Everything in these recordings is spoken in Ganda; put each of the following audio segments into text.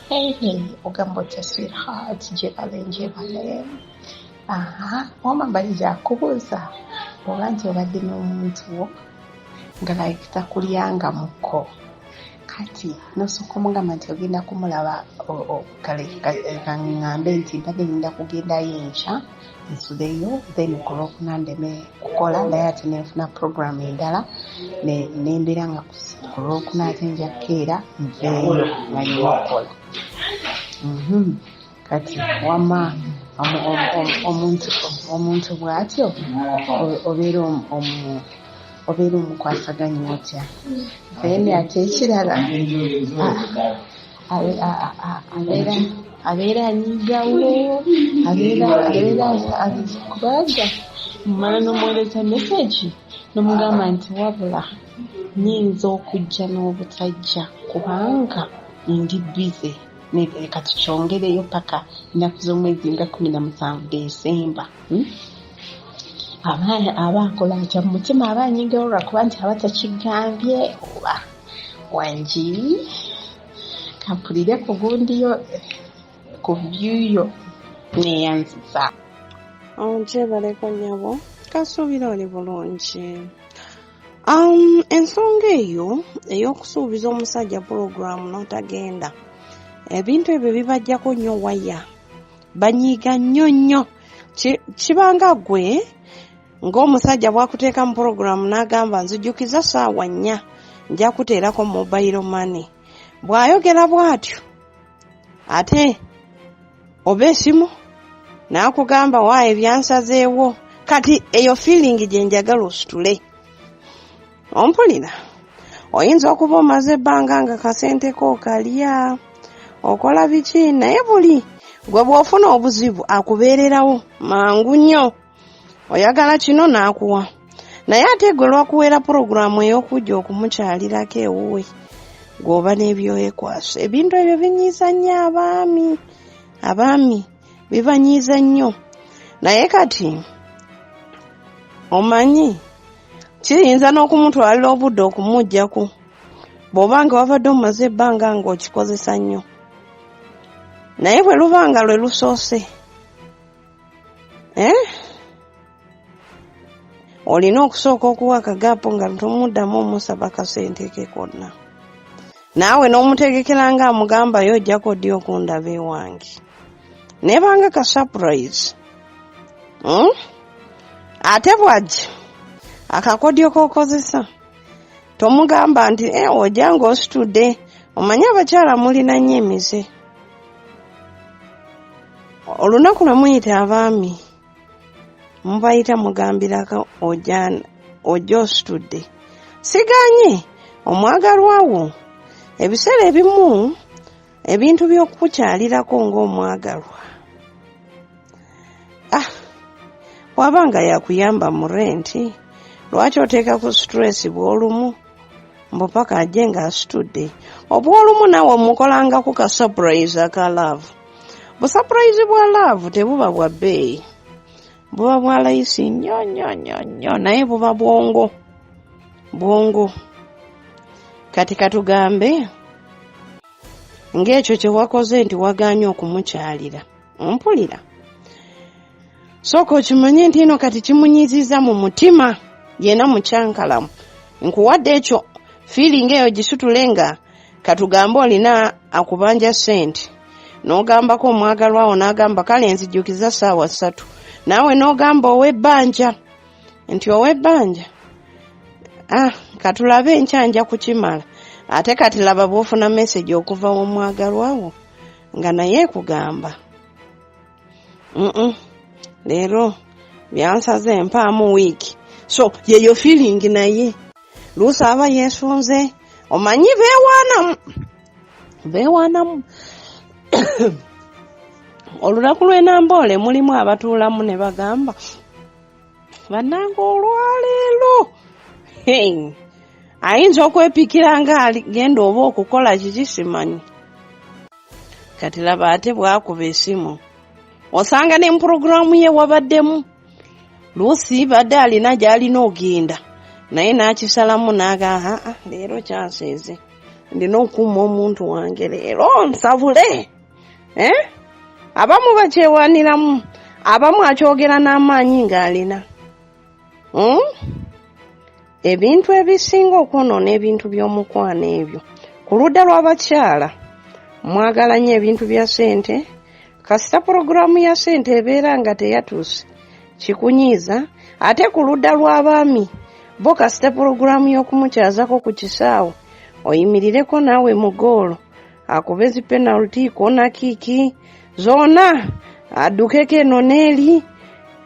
Hey, hey, ogamba otya sweetheart gyebale ngyebale aha wama mbali gyakubuuza oba nti obadde n'omuntu wo nga like takulyanga muko kati nosooka omugamba nti ogenda kumulaba kale ngambe nti mbadde ngenda kugendayo enkya nsudeyo then ku lwokuna ndeme kukola naye ate nenfuna program endala nembeera nga ku lwokuna ate nja kukeera nveeyo nga nyina okukola mhm. kati wama omuntu bwatyo obeera omukwasaganya otya then ate ekirala ah, abeera anyigawo abeera abeera kubanga mmala n'omuweereza mesegi nomugamba nti wabula nyinza okujja n'obutajja kubanga ndi bize leka tukyongereyo paka ennaku z'omwezi nga kumi na musanvu desemba hmm? abaana aba akola atya mu mutima aba anyingira olwakuba nti aba takigambye oba wangi kampulire ku gundiyo ku byuyo neyanziza onjebaleko oh, nyabo kasuubira oli bulungi um, ensonga eyo ey'okusuubiza omusajja pulogulaamu n'otagenda ebintu ebyo bibajjako nnyo waya banyiiga nnyo nnyo kibanga gwe ng'omusajja bwakuteeka mu pulogulaamu n'agamba nzijukiza saawa nnya nja kuteerako mobayiro mane bw'ayogera bw'atyo ate oba esimu n'akugamba wa ebyansazeewo kati eyo fiiringi gye njagala ositule ompulira oyinza okuba omaze ebbanga nga kasente ko okalya okola biki naye buli gwe bw'ofuna obuzibu akubeererawo mangu nnyo oyagala kino n'akuwa naye ate gwe lwakuweera pulogulaamu ey'okujja okumukyalirako ewuwe gwoba n'ebyoyekwasa ebintu ebyo binyiiza nnyo abaami abaami bibanyiiza nnyo naye kati omanyi kiyinza n'okumutwalira obudde okumugjako bw'oba nga wabadde omaze ebbanga ng'okikozesa nnyo naye bwe luba nga lwe lusoose eh? olina okusooka okuwa akagaapu nga tomuddamu omusaba kasente ke konna naawe n'omutegekera nga amugambayo ojjako ddi okundaba ewange nebanga ka surprise hmm? ate bwajja akakodyo kokozesa tomugamba nti eh, ojja ng'ositudde omanyi abakyala mulina nnyo emize olunaku lwe muyita abaami mubayita mugambirako ojja ositudde siganye omwagalwa wo ebiseera ebimu ebintu by'okukukyalirako ng'omwagalwa ah waba nga yakuyamba mu renti lwaki oteeka ku situleesi bw'olumu mbu paka ajje ng'asitudde obw'olumu nawe mukolangako ka surprise aka love busapurayizi bwa laavu tebuba bwa bbeeyi buba bwa layisi nnyo nnyo nnyo nnyo naye buba bwongo bwongo kati katugambe ng'ekyo kye wakoze nti wagaanye okumukyalira ompulira sooka okimanye nti ino kati kimunyiziza mu mutima yena mukyankalamu nkuwadde ekyo fiiringa eyo gisutule nga katugambe olina akubanja sente n'ogambako omwagalwawo n'agamba kale nzijukiza saawa ssatu naawe n'ogamba ow'ebbanja nti ow'ebbanja ah katulabe enkya nja kukimala ate kati laba bw'ofuna mesegi okuva w'omwagalwawo nga naye kugamba leero byansaze empaamu wiiki so yeyo feeling naye luusi aba yesunze omanyi bewaanamu bewaanamu olunaku lw'enamboole mulimu abatuulamu ne bagamba banange olwaleero ayinza okwepikira nga aligenda oba okukola kiki simanyi kati laba ate bwakuba esimu osanga ne mupuroguramu ye wabaddemu luusi badde alina gy'alina ogenda naye n'akisalamu n'aga haa leero kyanseeze ndina okuuma omuntu wange leero nsabule eh? abamu bakyewaniramu abamu akyogera n'amaanyi ng'alina hmm? ebintu ebisinga okwonoona ebintu by'omukwano ebyo ku ludda lw'abakyala mwagala nnyo ebintu bya sente kasita pulogulaamu ya sente ebeera nga teyatuuse kikunyiiza ate ku ludda lw'abaami bo kasita pulogulaamu y'okumukyazako ku kisaawe oyimirireko naawe mu goolo akupezi penalty kona kiki zona adukeko eno neeri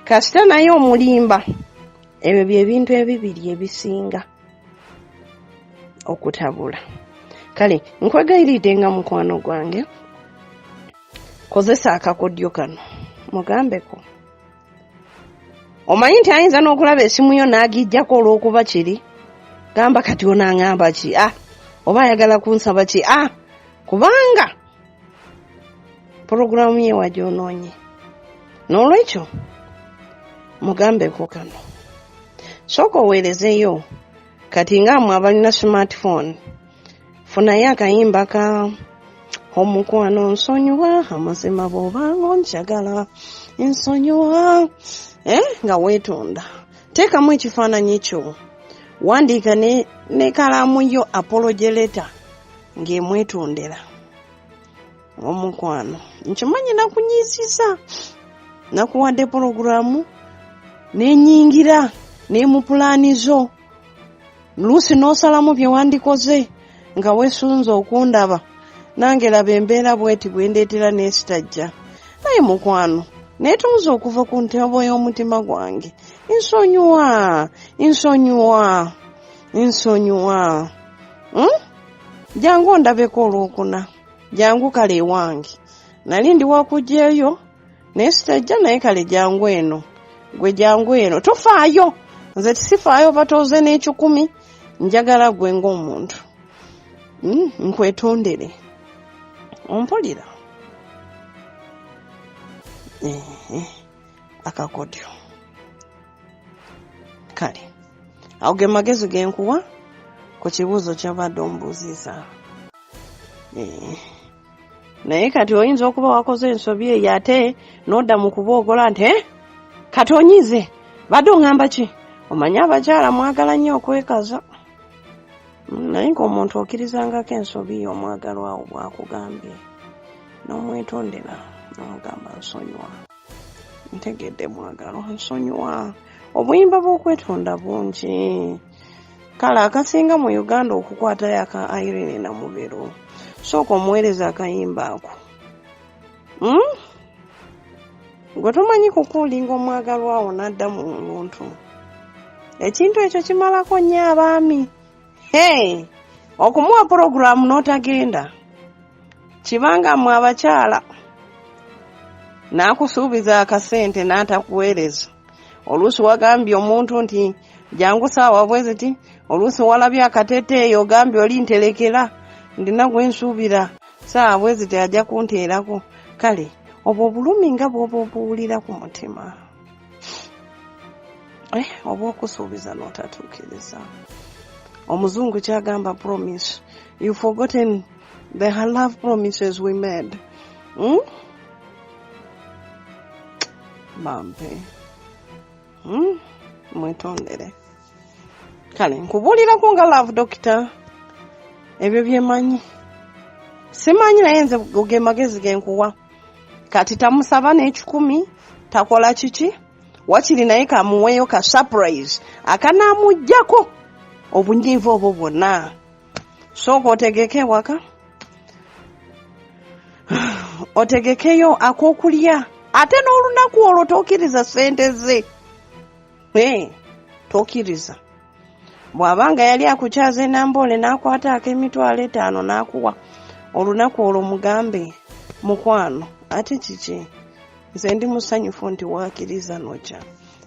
kasita naye omulimba ebyo byebintu ebibiri ebisinga okutabula kale nkwegayiride nga mukwano gwange kozesa akakodyo kano mugambeko omanyi nti ayinza n'okulaba esimu yo n'agijjako olw'okuba kiri gamba kati ono aŋamba ki a ah, oba ayagala kunsaba ki a ah, kubanga pulogulaamu ye wagyonoonye n'olwekyo mugambeko kano sooka oweerezeyo kati nga mwe abalina smartphone funayo akayimba ka omukwano nsonyiwa amazima bwobanga onjagala nsonyiwa eh, nga weetonda teekamu ekifaananyi kyo wandiika ne, ne kalaamu yo apologeleta ng'emwetondera omukwano nkimanyi nakunyiisiza nakuwadde pologulaamu nenyingira nemupulaani zo luusi n'osalamu bye wandikoze nga wesunze okundaba nange laba embeera bweti bwendeetera n'esitajja naye mukwano neetonza okuva ku ntebo y'omutima gwange nsonyiwa nsonyiwa nsonyiwa hmm? jangu ondabeko olwokuna jangu kale ewange nali ndi wakugyeyo naye sitajja naye kale jangu eno gwe jangu eno tofaayo nze tisifaayo batoze n'ekikumi njagala gwe ng'omuntu hmm, nkwetondere ompulira akakodyo kale awo ge magezi genkuwa ku kibuuzo kyobadde ombuuziza eh. naye kati oyinza okuba wakoze ensobi eyo ate n'odda mu kuboogola nti eh, kati onyize badde oŋamba ki omanyi abakyala mwagala nnyo okwekaza mm, naye ng'omuntu okirizangako ensobi yo omwagalwawo bwakugambye n'omwetondera n'omugamba nsonyiwa ntegedde mwagalo nsonyiwa obuyimba bw'okwetonda bungi kale akasinga mu uganda okukwatayo aka irene namubero sooka omuweereza akayimba ako hmm? gwe tomanyi kukuulinga omwagalwawo n'adda mu buntu ekintu ekyo kimalako nnyo abaami hey! okumuwa pulogulaamu n'otagenda kibanga mwe abakyala n'akusuubiza akasente n'atakuweereza oluusi wagambye omuntu nti jangu saawa bweziti oluusi walabye akateteeyo ogambye oli nterekera ndina gwensuubira saawa bweziti ajja kunteerako kale obwo obulumi nga bwoba obuwulira ku mutima eh, obwokusuubiza notatuukiriza omuzungu kyagamba promise you forgotten the love promises we made hmm? bampe hmm? mwetondere kale nkubuulirako nga love dokita ebyo byemanyi simanyi naye nze ge magezi genkuwa kati tamusaba n'ekikumi takola kiki wakiri naye kamuweeyo ka surprise akanaamugjako obunyiivu obwo bwonna sooka otegeke ewaka otegekeyo akokulya ate n'olunaku olwo tokiriza sente ze eh, tokiriza bw'aba nga yali akukyaza enamboole n'akwata ak'emitwalo etaano n'akuwa olunaku olwo mugambe mukwano ate kiki nze ndi musanyufu nti wakiriza noja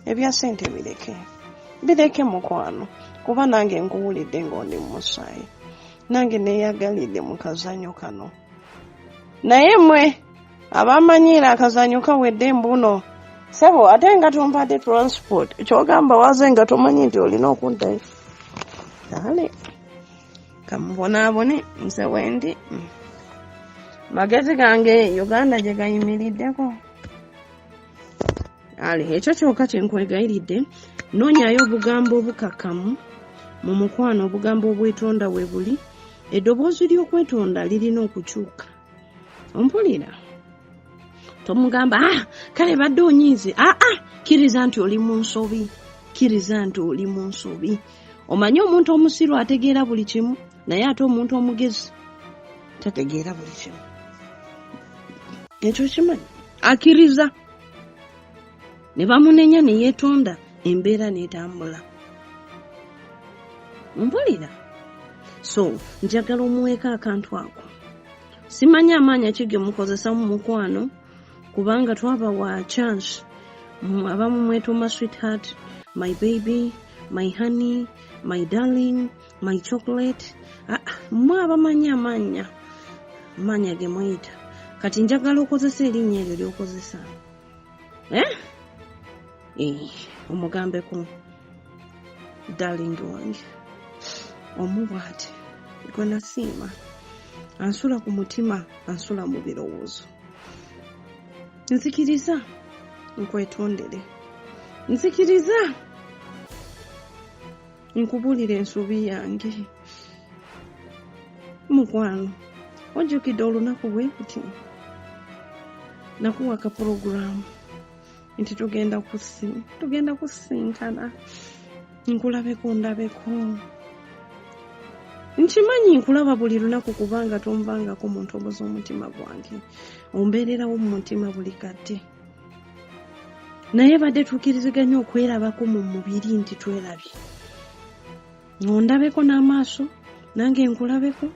ebya sente bireke bireke mukwano kuba nange nkuwulidde ngaondi mumusaayi nange neyagalidde mu kazanyo kano naye mwe abamanyiira akazanyo kawedde mbuno sebo ate nga tumpadde transport kyogamba waze nga tomanyi nti olina okuddayo ale kamubonaabone nze wendi magezi gange uganda gye gayimiriddeko ale ekyo kyoka kyenkwegayiridde noonyayo obugambo obukakamu mu mukwano obugambo obwetonda we buli eddoboozi ly'okwetonda lirina okukyuka ompulira tomugamba ah, kale badde onyiize aa ah, ah, kkiriza nti oli mu nsobi kkiriza nti oli mu nsobi omanyi omuntu omusiru ategeera buli kimu naye ate omuntu omugezi tategeera buli kimu ekyo kimanyi akkiriza ne bamunenya ne yeetonda embeera n'etambula mpulira so njagala omuweeka akantu ako simanyi amaanya ki ge mukozesa mu mukwano kubanga twaba wa chance abamu mwetuuma sweetheart my baby my honey my darling my chocolate ah, ah, mwe abamanyi amaanya amaanya ge mweyita kati njagala okozesa erinnya eryo lyokozesa eh? eh, omugambeko darling wange omu bwati gwe nasiima ansula ku mutima ansula mu birowoozo nzikiriza nkwetondere nzikiriza nkubuulira ensobi yange mukwano ojjukidde olunaku bwe nti nakuwa kapulogulaamu nti tugenda kusi tugenda kusisinkana nkulabeko ndabeko nkimanyi nkulaba buli lunaku kubanga tonvangako mu ntobo z'omutima gwange ombeererawo mu mutima buli kadde naye badde tukiriziganya okwerabako mu mubiri nti twerabye ondabeko n'amaaso nange nkulabeko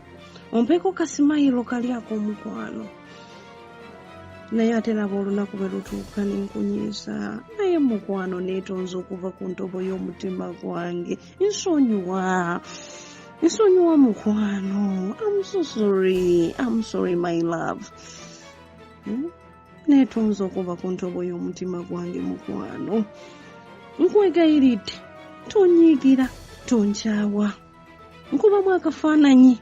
ompeko kasimayiro kali ak'omukwano naye ate laba olunaku bwe lutuuka ne nkunyiiza naye mukwano neetonze okuva ku ntobo y'omutima gwange nsonyiwa nsonyiwa mukwano amusosori amusori my love hmm? netonza okuva ku ntobo y'omutima gwange mukwano nkwegayiridde tonyiigira tonkyawa nkubamu akafaananyi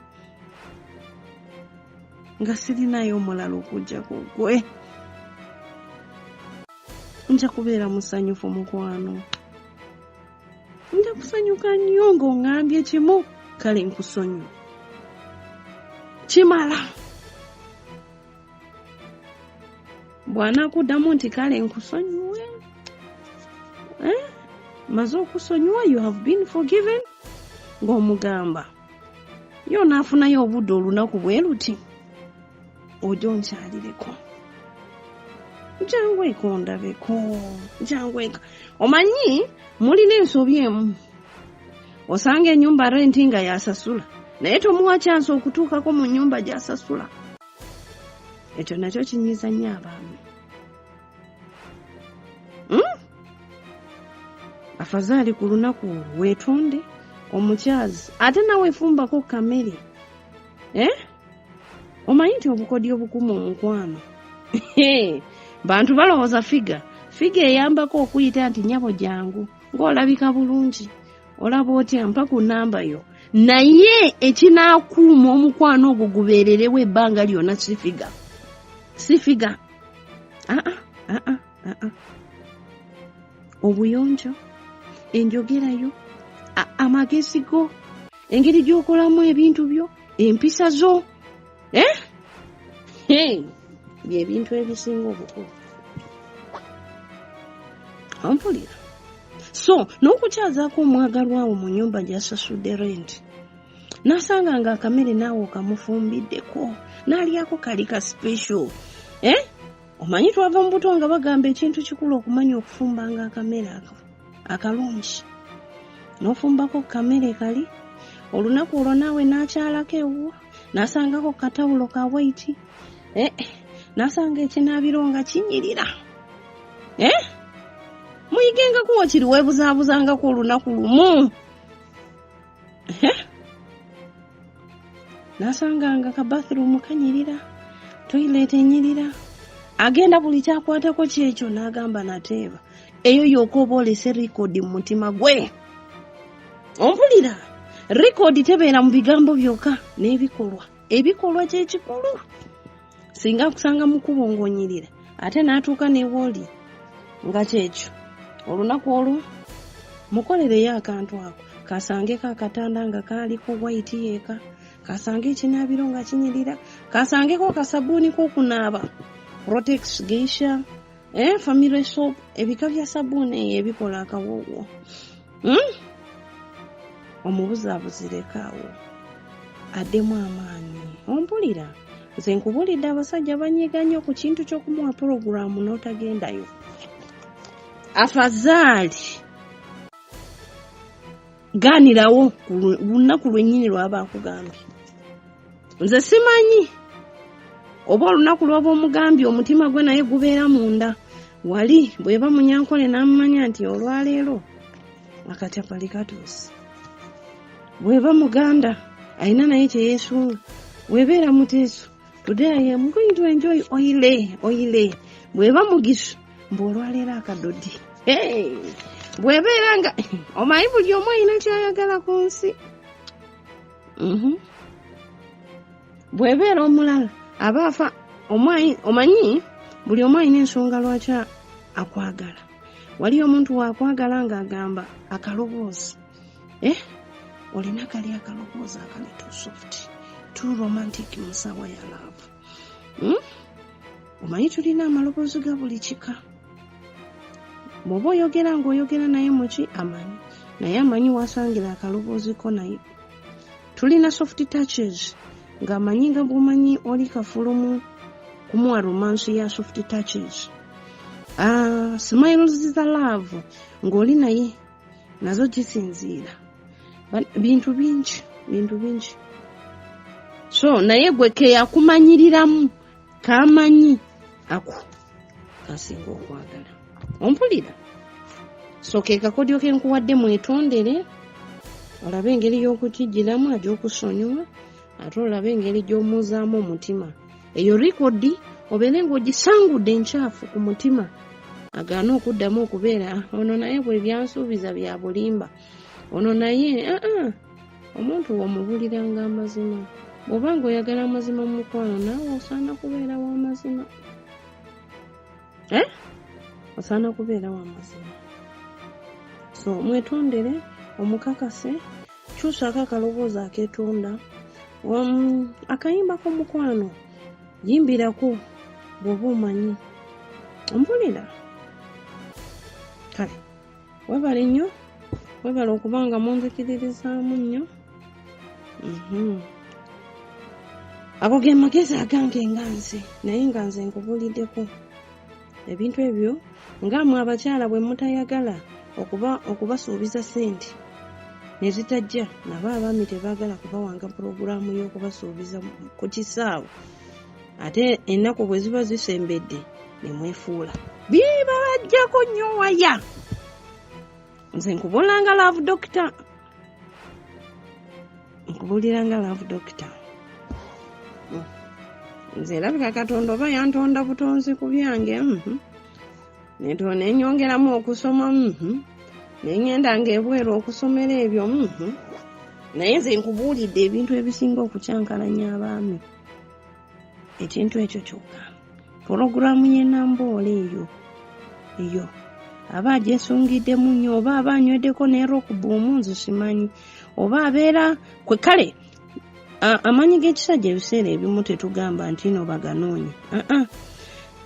nga sirinayo omulala okujja ku gwe nja kubeera musanyufu mukwano nja kusanyuka nnyo ng'oŋambye kimu kale nkusonyiwa kimala bwanakuddamu nti kale nkusonyiwe eh? maze okusonyiwa you have been forgiven ng'omugamba yo naafunayo obudde olunaku bwe luti ojo nkyalireko jangu eka ondabeko jangu eka omanyi mulina ensobi emu osanga enyumba renti nga yasasula naye tomuwa kyansi okutuukako mu nyumba gyasasula ekyo nakyo kinyiiza nnyo abaami hmm? afazaali ku lunaku weetonde omukyazi ate nawe efumbako kamere eh? omanyi nti obukodyo obukuma omukwano bantu balowooza figa figa eyambako okuyita nti nyabo jangu ng'olabika bulungi olaba otya mpa ku namba yo naye ekinaakuuma omukwano ogwo gubeererewo ebbanga lyonna sifiga sifiga aa ah, aa ah, aa ah, obuyonjo enjogera yo amagezi go engeri gy'okolamu ebintu byo empisa zo eh? hey. byebintu ebisinga obukulu ampulira so n'okukyazako omwagalwawo mu nyumba gyasasudde renti nasanga nga akamere naawe okamufumbiddeko nalyako kali ka special eh? omanyi twava mu buto nga bagamba ekintu kikulu okumanya okufumba nga akamere ako akalungi nofumbako kamere kali olunaku olwo naawe nakyalako ewuwo nasangako katawulo ka waiti eh, nasanga ekinaabiro nga kinyirira eh? muyigengako wakiri webuzaabuzangako olunaku lumu eh? nasanga nga ka bathroom kanyirira toilet enyirira agenda buli kyakwatako kyekyo n'agamba nateeba eyo yoka oba olese rikodi mu mutima gwe ompulira rekodi tebeera mu bigambo byokka n'ebikolwa ebikolwa kyekikulu singa akusanga mukubo ng'onyirira ate n'atuuka newooli nga kyekyo olunaku olwo mukolereyo akantu ako kasangeko akatanda nga kaaliko waiti yeeka kasange ekinaabiro nga kinyirira kasangeko kasabuuni kokunaaba rotex geisha eh, family soap ebika bya sabuuni eyo ebikola akawowo hmm? omubuzabuzirekawo addemu amaanyi ompulira nze nkubulidde abasajja banyiga nnyo ku kintu ky'okumuwa pulogulaamu n'otagendayo afazaali gaanirawo ku lu- lunaku lwennyini lwaba akugambye nze simanyi oba olunaku lwaba omugambye omutima gwe naye gubeera munda wali bweba munyankole n'amumanya nti olwaleero akacapali katuuse bweba muganda alina naye kyeyesunga webeera muteeso Today I am going to enjoy oile oile bweba mugisha mbu olwaleero akadodi hey! bwebeera nga omanyi buli omu alina kyayagala ku nsi mhm. bwebeera omulala aba afa omanyi buli omu alina ensonga lwaki akwagala waliyo omuntu wakwagala ng'agamba akaloboozi eh? olina kali akalowooza akali to soft to romantic musawa ya laavu hmm? omanyi tulina amaloboozi ga buli kika bwoba oyogera ngaoyogera naye muki amanyi naye amanyi wasangira akalobooziko naye tulina soft touches ngaamanyi nga bwomanyi oli kafulumu kumuwa romansi ya soft touches ah, smiles za love ng'oli naye nazo kisinziira bintu bingi bintu bingi so naye gwe keyakumanyiriramu kamanyi ako kasinga okwagala ompulira so ke kakodyo ke nkuwadde mwetondere olabe engeri y'okukijjiramu ajja okusonyiwa ate olaba engeri gy'omuuzaamu omutima eyo likodi obeere ng'ogisangudde enkyafu ku mutima agaana okuddamu okubeera ah, ono naye bwe byansuubiza bya bulimba ono naye ah, ah, omuntu womubuliranga amazima bw'oba ng'oyagala amazima mu mukwano naawe osaana kubeera w'amazima eh? osaana kubeera wa mazima so mwetondere omukakase kyusaako akaloboozi aketonda um, akayimba k'omukwano yimbirako bw'oba omanyi ompulira kale webale nnyo webale okuba nga munzikiririzaamu nnyo mhm. ago ge magezi agange nga nze naye nga nze nkubuuliddeko ebintu ebyo nga mwe abakyala bwe mutayagala okuba okubasuubiza ssente ne zitajja nabo abaami tebaagala kubawanga pulogulaamu y'okubasuubiza ku kisaawe ate ennaku bwe ziba zisembedde ne mwefuula bibabajjako nnyo waya nze nkubulanga love dokita nkubuliranga love dokita nze erabika katonda oba yantonda butonzi ku byange mhm. netonda enyongeramu okusoma mhm. nengenda nga ebweru okusomera ebyo mhm. naye nze nkubuulidde ebintu ebisinga okukyankalanya abaami ekintu ekyo kyokka pulogulaamu y'enamboole eyo eyo aba agyesungiddemu nnyo oba aba anyweddeko ne rokubuumu nze simanyi oba abeera kwe kale amanyi g'ekisajja ebiseera ebimu tetugamba nti no baganoonya aa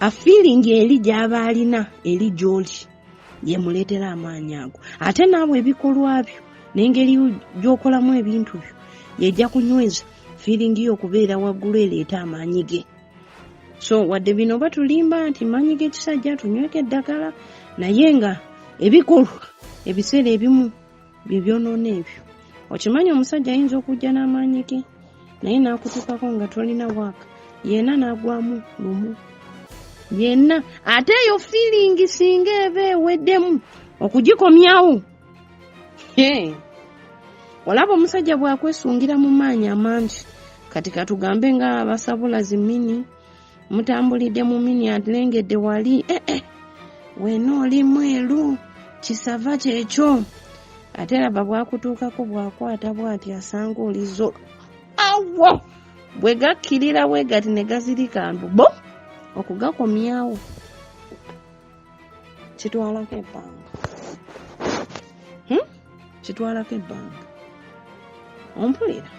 afiiringi eri gy'aba alina eri gy'oli yemuleetera amaanyi ago ate naawe ebikolwa byo n'engeri gy'okolamu ebintu byo yejja kunyweza fiiringi yo okubeera waggulu ereeta amaanyi ge so wadde bino oba tulimba nti maanyi g'ekisajja tunyweka eddagala naye nga ebikolwa ebiseera ebimu bye byonoona ebyo okimanyi omusajja ayinza okujja n'amaanyi ge naye n'akutuukako nga tolina waaka yena n'agwamu lumu yenna ate eyo fiiringi singa eba eweddemu okugikomyawo olaba omusajja bwakwesungira mu maanyi amangi kati katugambe nga basabula zimini mutambulidde mu mini alengedde wali ee eh, eh. wena oli mweru kisava kyekyo ate laba bwakutuukako bwakwata bwati asanga olizo awo bwe gakkirira bwe gati ne gazirika mbu bo okugakomyawo kitwalako ebbanga hmm? kitwalako ebbanga ompulira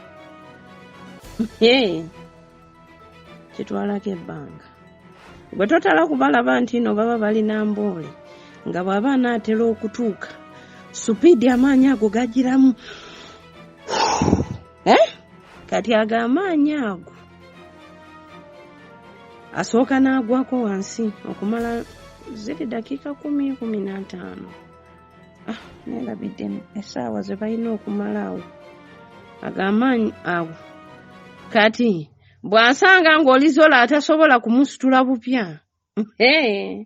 kitwalako ebbanga gwe totala kubalaba nti no baba balina mboole nga bwaba anaatera okutuuka supiidi amaanyi ago gagiramu eh? kati ago amaanyi ago asooka n'agwako wansi okumala ziri dakiika kumi kumi n'ataano ah, neerabidde esaawa ze balina okumala awo ago amaanyi awo kati bw'asanga ng'olizola atasobola kumusitula bupya hey.